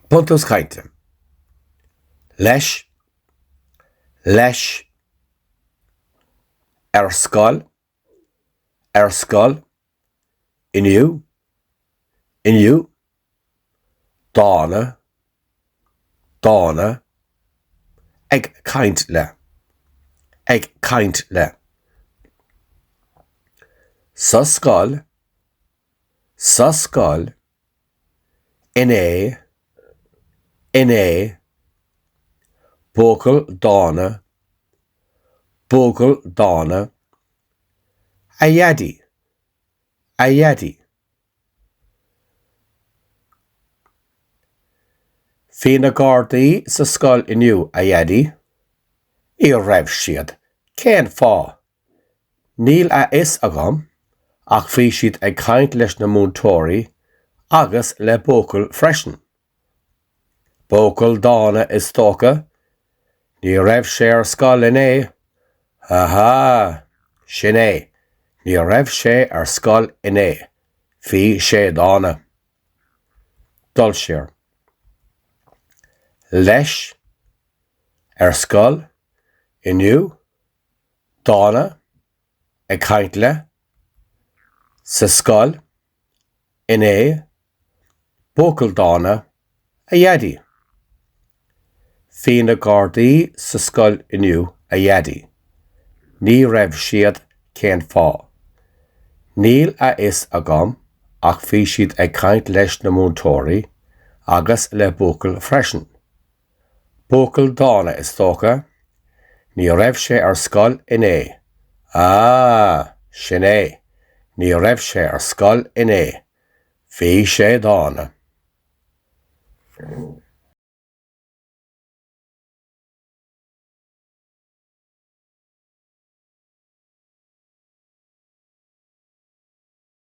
Buntús Cainte, leis, leis, ar scoil, ar scoil, inniu, inniu, dána, dána, ag caint le, ag caint le, sa scoil, sa scoil, inné inné Buachaill dána Buachaill dána A Dhaidí A Dhaidí Bhí na gardaí sa scoil inniu a Dhaidí Ní raibh siad, cén fáth? Níl a fhios agam, ach bhí siad ag caint leis na múinteoirí agus le buachaill freisin. Buachaill dána is dócha, ní raibh sé ar scoil inné, ahá, sin é, ní raibh sé ar scoil inné, bhí sé dána. Dul siar. Leis? Ar scoil? Inniu? dána ag caint le, sa scoil, inné, buachaill dána, a Dhaidí. Bhí na Gardaí sa scoil inniu, a Dhaidí. Ní raibh siad cén fáth. Níl a fhios agam ach bhí siad ag caint leis na múinteoirí agus le buachaill freisin. Buachaill dána is dócha. Ní raibh sé ar scoil inné. Á, sin é, ní raibh sé ar scoil inné. Bhí sé dána.